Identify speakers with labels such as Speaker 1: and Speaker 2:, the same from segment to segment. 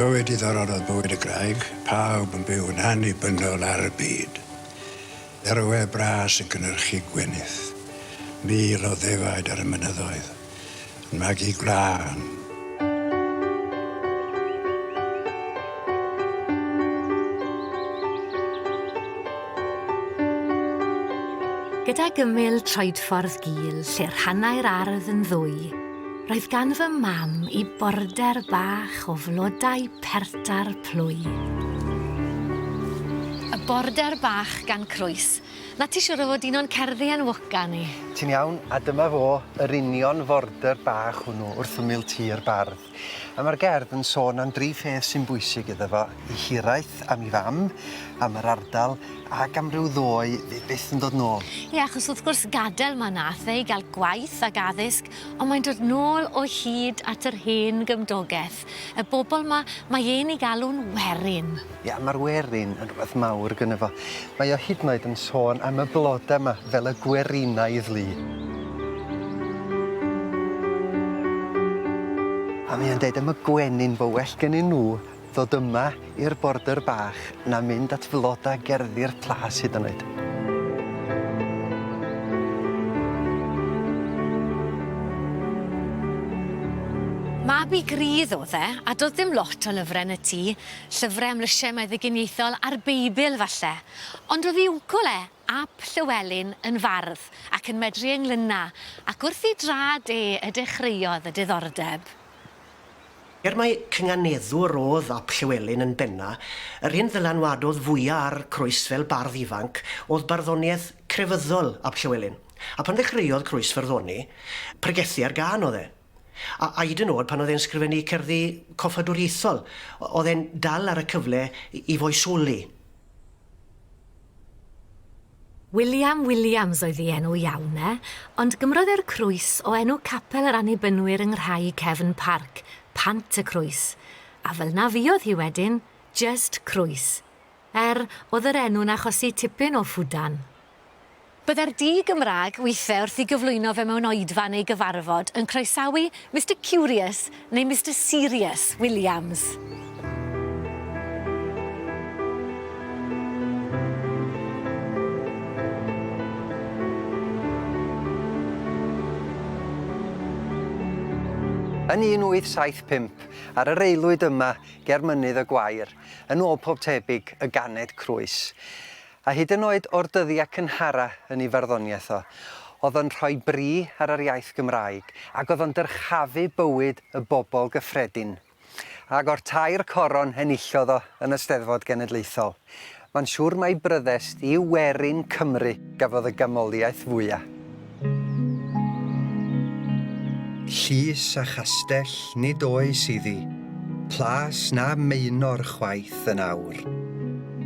Speaker 1: Bywyd diddorol oedd bywyd y graig, pawb yn byw yn annibynnol ar y byd. Dderwe bras yn cynnyrchu gwenith, mil o ddefaid ar y mynyddoedd. Magu gwlân.
Speaker 2: Gydag ymyl troedffordd gul lle rhannai'r ardd yn ddwy, roedd gan fy mam i border bach o flodau perta'r plwy. Y border bach gan Croes Na ti siŵr o fod un o'n cerddi enwoca ni? Ti'n iawn, a dyma
Speaker 3: fo, yr union fordr bach hwnnw wrth ymyl tŷ yr bardd. A mae'r gerdd yn sôn am dri pheth sy'n bwysig iddo fo, 'i hiraeth, am 'i fam, am yr ardal, ac am ryw ddoe fydd byth yn dod nôl. Ie, achos wrth gwrs
Speaker 2: gadel ma nath fe i gael gwaith ac addysg, ond mae'n dod nôl o hyd at yr hen gymdogeth. Ffydd y bobl 'ma, mae e'n ei galw'n werin. Ia, ma'r werin
Speaker 3: yn rwbeth mawr gynno fo. Mae o hyd yn oed yn sôn am y bloda 'ma fel y gwerinaidd lu. A mae o'n deud am y gwenyn fo well gennyn nw ddod yma i'r border bach na mynd at floda gerddi'r plas hyd yn oed.
Speaker 2: Mab-gu grydd oedd e, a doedd dim lot o lyfrau yn y tŷ, llyfrau am lysiau meddyginiaethol a'r Beibl falle. Ond oedd ei wncwl e, ap Llywelyn, yn fardd ac yn medru englynau, ac wrth ei draed e y dechreuodd y diddordeb.
Speaker 4: Er mai cynganeddwr oedd ap Llywelyn yn benna', yr hyn ddylanwadodd fwya' ar Croes fel bardd ifanc oedd barddoniaeth crefyddol ap Llywelyn, a phan ddechreuodd Croes farddoni, pregethu ar gân oedd e. A hyd yn o'd pan oedd e'n sgrifennu cerddi coffadwriaethol, oedd e'n dal ar y cyfle i foesoli.
Speaker 2: William Williams oedd ei enw iawn e, ond gymrodd e'r crwys o enw capel yr Annibynwyr yng Nghraig Cefn Parc, Pant y Crwys, a fel 'na fuodd hi wedyn, jyst Crwys. Er, oedd yr enw'n achosi tipyn o ffwdan. Byddai'r du Gymraeg, withe, wrth i gyflwyno fe mewn oedfa neu gyfarfod, yn croesawu Mister Curious Neu Mister Serious Williams.
Speaker 3: Yn 1875, ar yr aelwyd yma ger Mynydd y Gwair, yn ôl pob tebyg, y ganed Croes. A hyd yn oed o'r dyddiau cynhara yn ei farddoniaeth o, oedd o'n rhoi bri ar yr iaith Gymraeg, ac oedd o'n dyrchafu bywyd y bobl gyffredin. Ac o'r tair coron enillodd o yn y Steddfod Genedlaethol, mae'n siŵr mai Bryddest yw werin Cymru gafodd y ganmoliaeth fwya. Llys a chastell nid oes iddi, plas na maenor chwaith yn awr,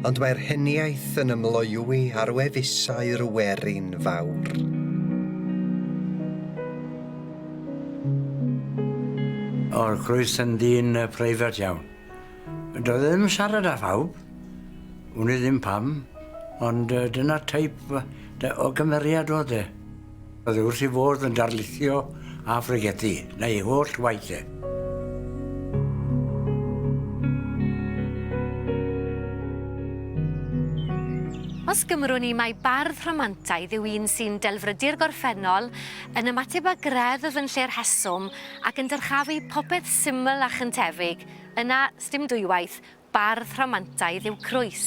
Speaker 3: ond mae'r heniaith yn ymloywi ar wefusau'r werin fawr.
Speaker 5: O'r croes yn ddyn preifat iawn, Doedd e ddim yn siarad â phawb, wn i ddim pam, ond yy dyna'r teip yy o gymeriad o'dd e. O'dd e wrth 'i fodd yn darlithio a phregethru, 'na ei holl waith e.
Speaker 2: Os gymrwn i mai bardd rhamantaidd yw un sy'n delfrydu'r gorffennol, yn ymateb â greddf yn lle'r rheswm, ac yn dyrchafu popeth syml a chyntefig, Yna, sdim dwywaith, bardd rhamantaidd yw Croes.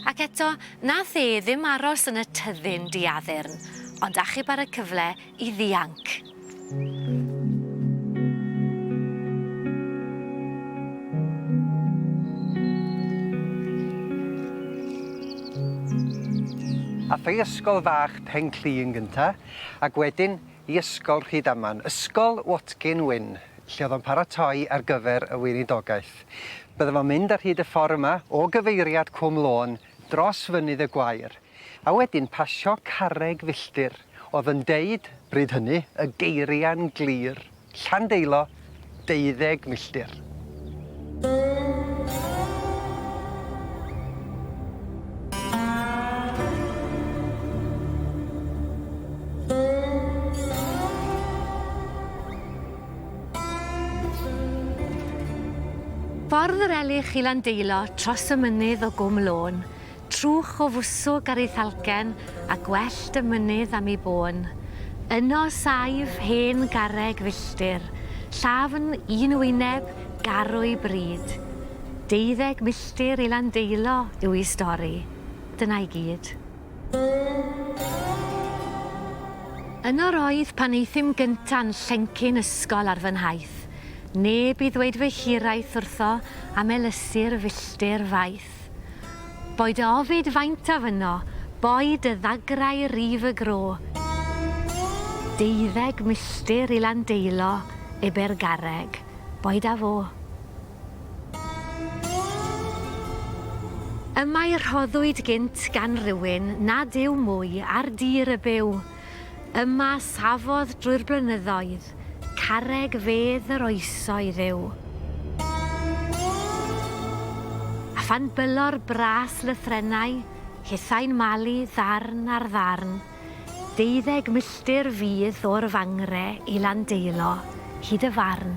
Speaker 2: Ac eto, nath e ddim aros yn y tyddyn diaddurn, ond achub ar y cyfle i ddianc.
Speaker 3: Ath o i ysgol fach Pen-clu yn gynta, ac wedyn i Ysgol Rhydaman, Ysgol Watkin Wyn, lle oedd o'n paratoi ar gyfer y Weinidogaeth. Bydde fo'n mynd ar hyd y ffordd yma o gyfeiriad Cwm Lôn dros Fynydd y Gwair, a wedyn pasio carreg filltir oedd yn deud, bryd hynny, y geiriau'n glir, Llandeilo, deuddeg milltir.
Speaker 2: Ffordd yr Elych i Landeilo tros y mynydd o Gwm Lôn, Trwch o fwswg ar ei thalcen, a gwellt y mynydd am ei bôn. Yno saif hen garreg filltir, llafn, un wyneb, garrwy bryd. Deuddeg milltir i Landeilo yw ei stori. Dyna i gyd. Yno roedd pan aethum gynta'n llencyn ysgol ar fy nhaith. Neb i ddweud fy hiraeth wrtho am elysir filltir faith. Ffraeth. Boed dy ofid faintaf yno, boed dy ddagrau rif y gro. Deuddeg milltir i Landeilo, ebe'r garreg, boed â fo. Y mae rhoddwyd gynt gan rywun nad yw mwy ar dir y byw. Yma safodd drwy'r blynyddoedd, carreg fedd yr oesoedd yw. A phan bylor bras lythrennau, hithau'n malu ddarn ar ddarn, deuddeg milltir fydd o'r Fangre i Landeilo, hyd y Farn.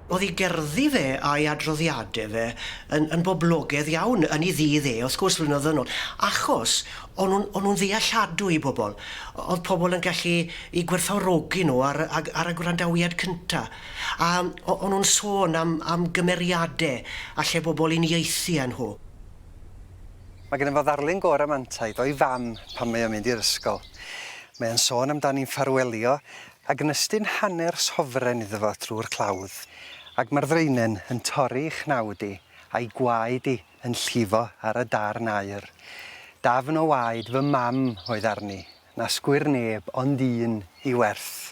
Speaker 4: O'dd 'i gerddi fe a'i adroddiade fe yn yn boblogedd iawn yn 'i ddydd e, wrth gwrs, flynyddoedd yn ôl, achos o'n nw'n o'n nw'n ddealladwy i bobol. O- o'dd pobol yn gallu 'u gwerthfawrogi nw ar y ag ar y gwrandawiad cynta. A o- o'n nw'n sôn am am gymeriade alle bobol uniaethu â nhw.
Speaker 3: Mae gennym fo ddarlun go ramantaid o'i fam pan mae o'n mynd i'r ysgol. Mae o'n sôn amdani'n ffarwelio Ac yn ystyn hanner sofren iddo fo drwy'r clawdd, ac mae'r ddraenen yn torri i chnawd i, a'i gwaed i yn llifo ar y darn aur. Dafn o waed fy mam oedd arni, na sgwir neb ond un i werth.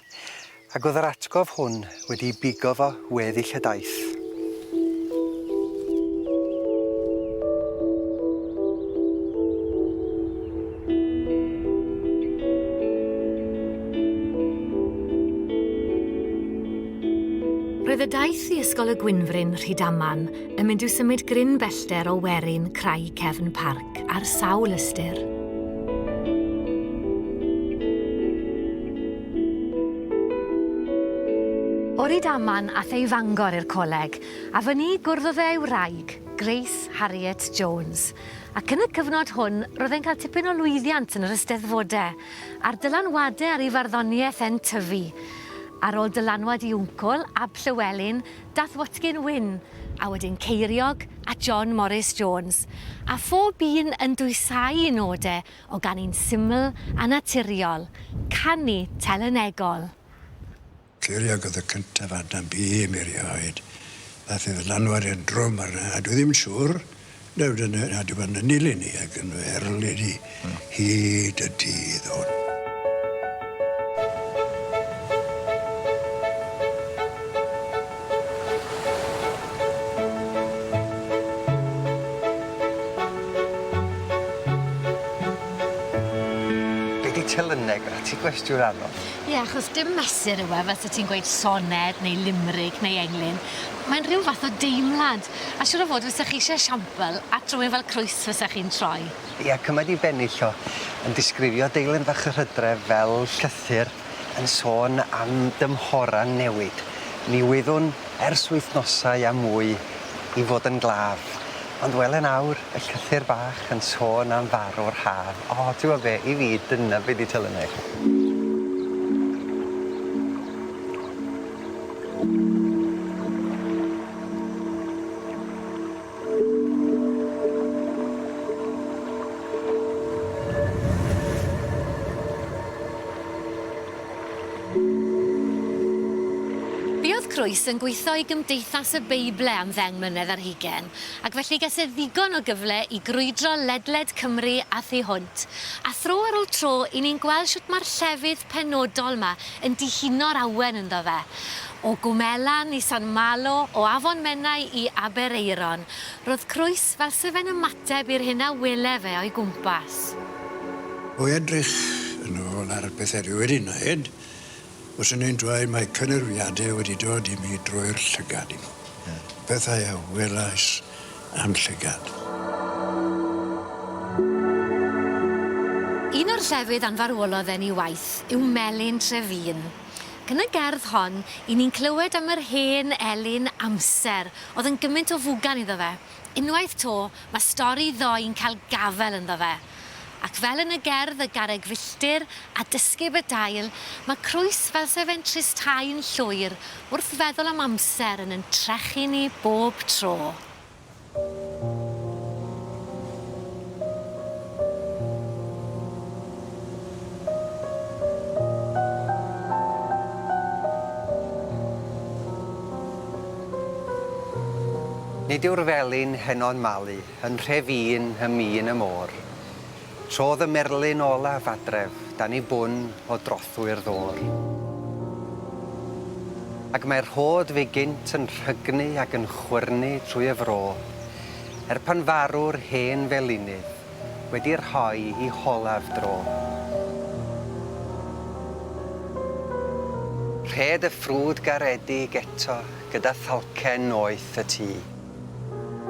Speaker 3: Ac oedd yr atgof hwn wedi'i bigo fo weddill y daith.
Speaker 2: Roedd y daith i Ysgol y Gwynfryn, Rhydaman, yn mynd i'w symud gryn bellter o werin Craig Cefn Parc ar sawl ystyr. O Rydaman ath e i Fangor i'r coleg, a fyny gwrddodd e â'i wraig, Grace Harriet Jones, Ac yn y cyfnod hwn, roedd e'n cael tipyn o lwyddiant yn yr Eisteddfodau, a'r dylanwadau ar ei farddoniaeth e'n tyfu. Ar ôl dylanwad i wncwl, Ab Llywelyn, dath Watkin Wyn, a wedyn Ceiriog a John Morris Jones, a phob un yn dwysáu'i nodau o ganu'n syml a naturiol, canu telynegol.
Speaker 1: Cliriodd y cyntaf Adam Bee imi rioed. Ddaeth ei ddylanwad e'n drwm arna, a dwi ddim yn siŵr nad yw yn nad yw yn ynil i ni ac yn fy erl i ni hyd y dydd hwn.
Speaker 3: Be' 'di telyneg? 'Na ti gwestiwn anodd. Ie, achos dim
Speaker 2: mesur yw e fel sa ti'n gweud soned neu limeric neu englyn. Mae'n rhyw fath o deimlad, a siŵr o fod fysa chi isie esiampl at rywun fel Crwys fysa chi'n troi? Ie, cymaint i
Speaker 3: bennill o, yn disgrifio deilyn fach yr hydref fel llythyr yn sôn am dymhorau'n newid. Mi wyddwn, ers wythnosau a mwy, i fod yn glaf, ond wel yn awr, y llythyr bach yn sôn am farw'r haf. O, t'wbo' be', i fi, dyna be' 'di telynau.
Speaker 2: Buodd Crwys yn gweithio i Gymdeithas y Beible am ddeng mlynedd ar hugain, ac felly ges e ddigon o gyfle i grwydro ledled Cymru a thu hwnt, a thro ar ol tro i ni'n gweld shwt mae'r llefydd penodol 'ma yn dihuno'r awen ynddo fe. O Gwmelan i San Malo, o Afon Menai i Aberaeron, ro'dd Crwys, T fel se fe'n ymateb i'r hyn a wele fe o'i gwmpas.
Speaker 1: O edrych yn ôl
Speaker 2: ar
Speaker 1: bethe dwi wedi neud, fyswn i'n dweud mae cynyrfiade wedi dod i mi drwy'r llygad i mi. Pethau a welais a'm llygad.
Speaker 2: Un o'r llefydd anfarwolodd e'n i waith yw Melin Trefin. Ac yn y gerdd hon, 'yn ni'n clywed am yr hen elyn amser Oedd yn gymint o fugan iddo fe. Unwaith 'to, mae stori ddoe yn cael gafel ynddo fe. Ac fel yn y gerdd Y Garreg Filltir a Dysgeb y Dail, mae Crwys fel se fe'n tristau'n llwyr wrth feddwl am amser yn yn trechu ni bob tro.
Speaker 3: Nid yw'r felin heno'n malu yn nhre fîn ym mîn y môr. Trodd y merlyn olaf adref dan i bwn o drothwy'r ddôr. Ac mae'r rhôd fu gynt yn rhygnu ac yn chwyrnu trwy y fro, er pan farw'r hen felinydd, wedi rhoi i holaf dro. Rhed y ffrwd garedig eto gyda thalcen noeth y tŷ.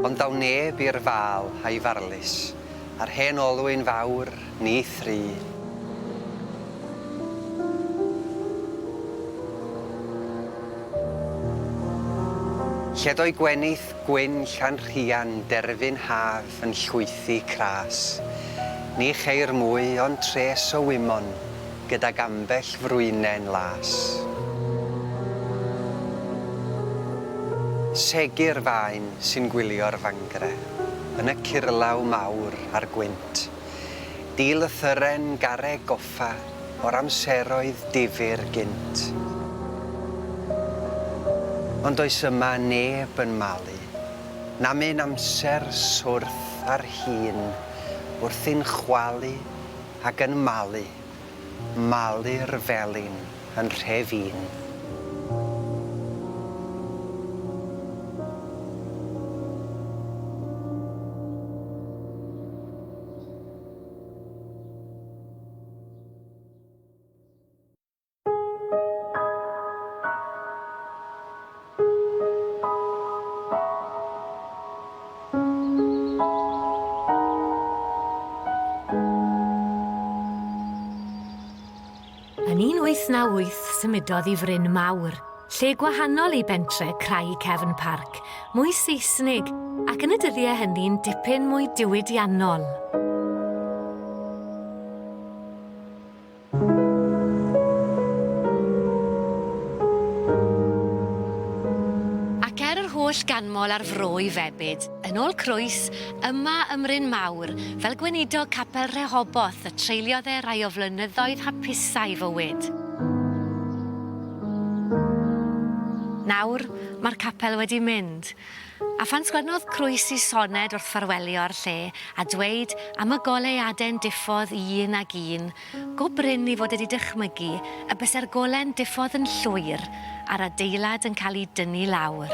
Speaker 3: Ond ddaw neb i'r fal a'i farlys, a'r hen olwyn fawr, ni thri. Lled o'i gwenith gwyn Llanrhian derfyn haf yn llwythi cras. Ni cheir mwy ond tres o wymon gydag ambell frwynen las. Segur fain sy'n gwylio'r fangre yn y curlaw mawr a'r gwynt. Dilythyren garreg goffa o'r amseroedd difyr gynt. Ond does yma neb yn malu Na myn amser swrth ar hyn wrthi'n chwalu ag yn malu, malu'r felin yn nhre fyn.
Speaker 2: Yn 1898 symudodd i Fryn Mawr, lle gwahanol i bentre Crai Cefn Parc, mwy Seisnig ac yn y dyddiau hynny'n dipyn mwy diwydiannol. Ac er yr holl ganmol a'r fro i febyd, yn ôl Croes, yma ym Mryn Mawr, fel gweinidog capel Rehoboth y treuliodd e rai o flynyddoedd hapusai fywyd. Nawr, mae'r capel wedi mynd, A phan sgwennodd Croesi soned wrth ffarwelio'r lle a dweud am y goleuade'n diffodd i un ag un, go brin i fod wedi dychmygu y byse'r gole'n diffodd yn llwyr a'r adeilad yn cael ei dynnu lawr.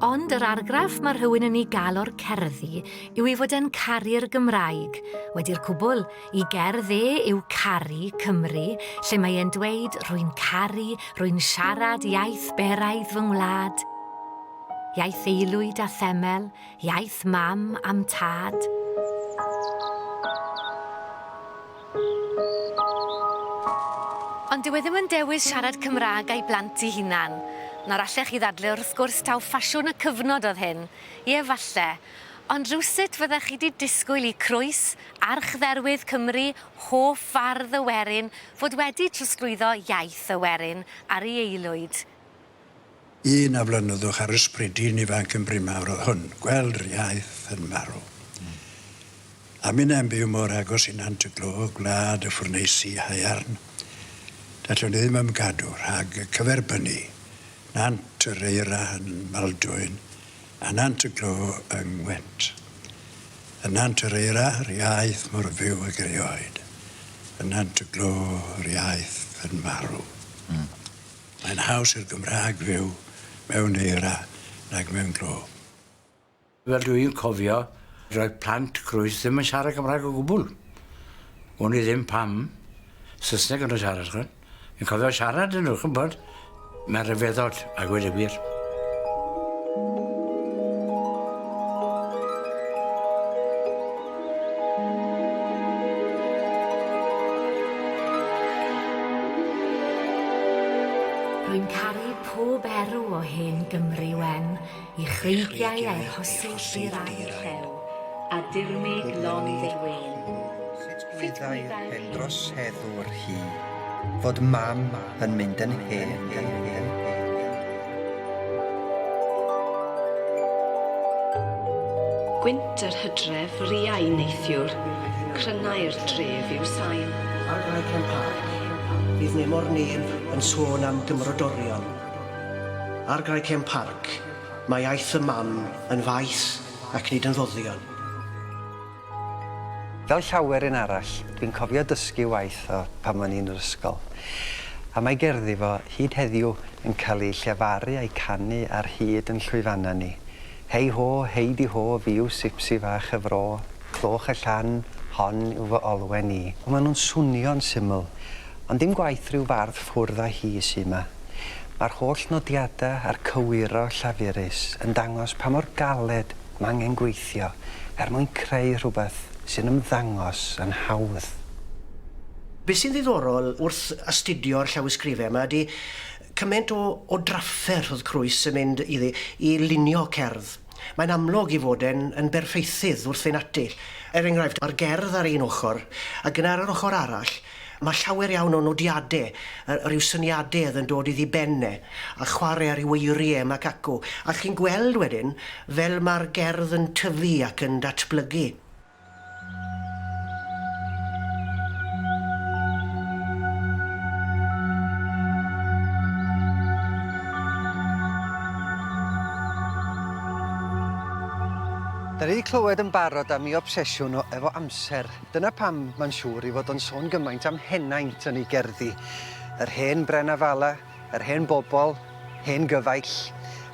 Speaker 2: Ond yr argraff mae rhywun yn ei gael o'r cerddi yw ei fod e'n caru'r Gymraeg. Wedi'r cwbl, i gerdd e yw Caru Cymru, lle mae e'n dweud rwy'n caru, rwy'n siarad iaith beraidd fy ngwlad, iaith aelwyd a themel, iaith mam a'm tad. Ond dyw e ddim yn dewis siarad Cymraeg a'i blant 'i hunan. Nawr allech chi ddadle wrth gwrs taw ffasiwn y cyfnod oedd hyn. Ie, falle. Ond rywsut fyddech chi 'di disgwyl i Croes, archdderwydd Cymru, hoff fardd y werin, fod wedi trosglwyddo iaith y werin ar ei aelwyd.
Speaker 1: Un a flynyddwch ar ysbry dyn ifanc yn brimawr oedd hwn, gweld yr iaith yn marw. A minnau'n byw mor agos i Nant y Glo, gwlad y ffwrneisi haearn, dallwn i ddim ymgadw rhag cyferbynnu Nant yr Eira yn Maldwyn a Nant y Glo yng Ngwent. Yn Nant yr Eira, yr iaith mor fyw ag erioed. Yn Nant y Glo, yr iaith yn marw. Mae'n haws i'r Gymraeg fyw mewn eira nag mewn glo. Fel
Speaker 5: dw i'n cofio, roedd plant Groes ddim yn siarad Cymraeg o gwbl. Wn i ddim pam. Saesneg o'n nhw'n siarad, chi'n gwybod. Fi'n cofio siarad â nhw, chi'n gwybod. Mae'n rhyfeddod, a gweud y gwir.
Speaker 2: Rwy'n caru pob erw o hen Gymru wen, i chreigiau a'i rhosydd dir a'i llew, a dirmyg lond ei wên. Sut wyddai'r
Speaker 3: hen droseddwr hi, fod mam, yn mynd yn hen.
Speaker 6: Gwynt yr hydref riau neithiwr, crynnau'r dref i'w sail. Ar Brycen
Speaker 4: Parc, fydd nemor neb yn sôn am gymrodorion. Ar Brycen Parc, mae aeth y mam yn faith ac nid yn ddoddion.
Speaker 3: Fel llawer un arall, dwi'n cofio dysgu waith o pan o'n i yn yr ysgol, a mae gerddi fo, hyd heddiw, yn cael eu llefaru a'u canu ar hyd yn llwyfannau ni. Hei ho, hei di ho, fi yw Sipsi fach y fro, clywch y llan, hon yw fy olwen i. O, maen nhw'n swnio'n syml, ond dim gwaith rhyw fardd ffwrdd â hi sy' 'ma. Mae'r holl nodiadau a'r cywiro llafurus yn dangos pa mor galed Mae angen gweithio er mwyn creu rhywbeth sy'n ymddangos yn hawdd.
Speaker 4: Be sy'n ddiddorol wrth astudio'r llawysgrifau yma ydy cymaint o o drafferth oedd Croes yn mynd iddi i lunio cerdd. Mae'n amlwg ei fod e'n yn berffeithydd wrth fynd ati. Er enghraifft, mae'r gerdd ar un ochr, ac yna ar yr ochr arall, Mae llawer iawn o nodiade, yy rhyw syniadedd yn dod iddi ben e, a chware ar ryw eirie mac acw, a chi'n gweld wedyn fel ma'r gerdd yn tyfu ac yn datblygu.
Speaker 3: Da ni 'di clywed yn barod am 'i obsesiwn o efo amser. Dyna pam mae'n siŵr ei fod o'n sôn gymaint am henaint yn ei gerddi, yr hen Brenafala, yr hen bobl, hen gyfaill,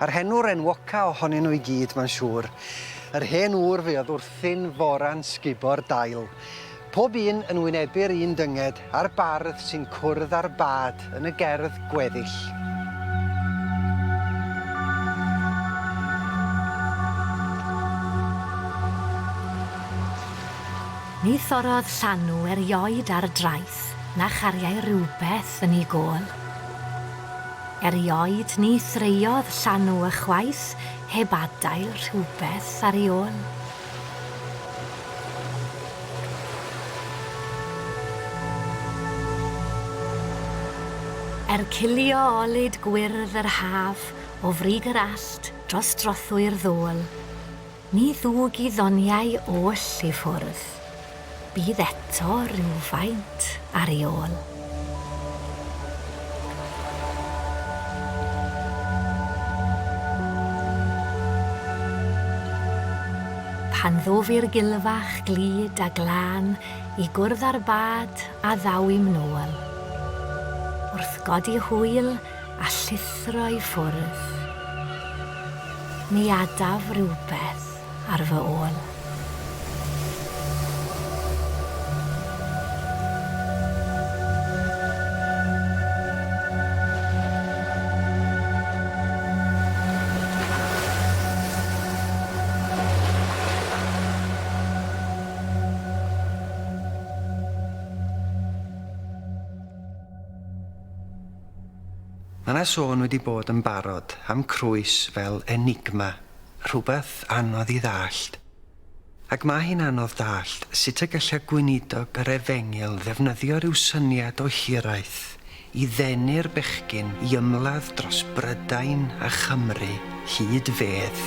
Speaker 3: a'r henwr enwoca ohonyn nhw i gyd, mae'n siŵr, yr hen ŵr fuodd wrthyn fora'n sgubo'r dail, pob un yn wynebu'r un dynged, a'r bardd sy'n cwrdd â'r bad yn y gerdd gweddill.
Speaker 2: Ni thorrodd llanw erioed ar draeth na chariai rywbeth yn ei gôl. Erioed ni threiodd llanw ychwaith heb adael rhywbeth ar ei ôl. Er cilio olud gwyrdd yr haf o frig yr allt dros drothwy'r ddôl, ni ddug i ddoniau oll i ffwrdd. Bydd eto rywfaint ar ei ôl. Pan ddof i'r gilfach glyd a glân i gwrdd â'r bad a ddaw i'm nôl. Wrth godi hwyl a llithro i ffwrdd. Mi adaf rywbeth. ar fy ôl.
Speaker 3: Mae 'na sôn wedi bod yn barod am Crwys fel enigma Rhywbeth anodd i ddallt. Ac mae hi'n anodd dallt sut y gallai gweinidog yr efengyl ddefnyddio rhyw syniad o hiraeth i ddenu'r bechgyn i ymladd dros Brydain a Chymru hyd fedd.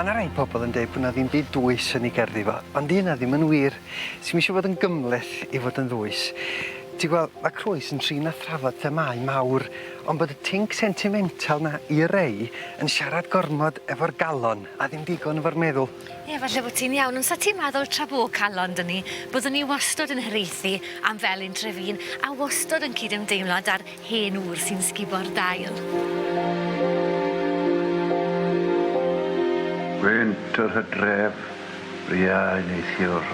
Speaker 3: Ma' 'na rei pobol yn deud bo' 'na ddim byd dwys yn 'i gerddi fo ond 'di hynna ddim yn wir. Ti'm isio fod yn gymhleth i fod yn ddwys. Ti gwel' ma' Croes yn trin a thrafod themâu mawr ond bod y tinc sentimental 'na i rei yn siarad gormod efo'r galon a ddim digon efo'r meddwl. Ie, falle bo' ti'n
Speaker 2: iawn, ond sa ti'n meddwl tra bo' calon 'da ni, byddwn ni wastod yn hiraethu am fel un Trefin, a wastod yn cydymdeimlo 'da'r hen ŵr sy'n sgubo'r dail.
Speaker 1: Gwynt yr hydref, briau neithiwr,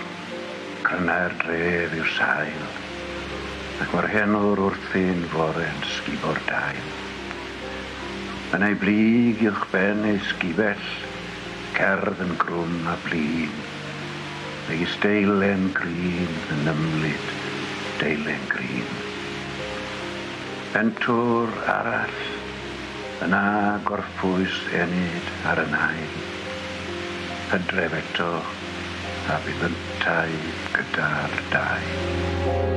Speaker 1: crynnau'r dref yw'r sail, ac mae'r hen ŵr wrthi'n fore yn sgubo'r dail. Yn ei blyg uwchben ei sgubell, Cerdd yn grwn a blin, megis deilen grîn yn ymlid deilen grîn. Pentwr arall yn a gorffwys enid ar y nain. Hydref eto a bydd yntau gyda'r dau.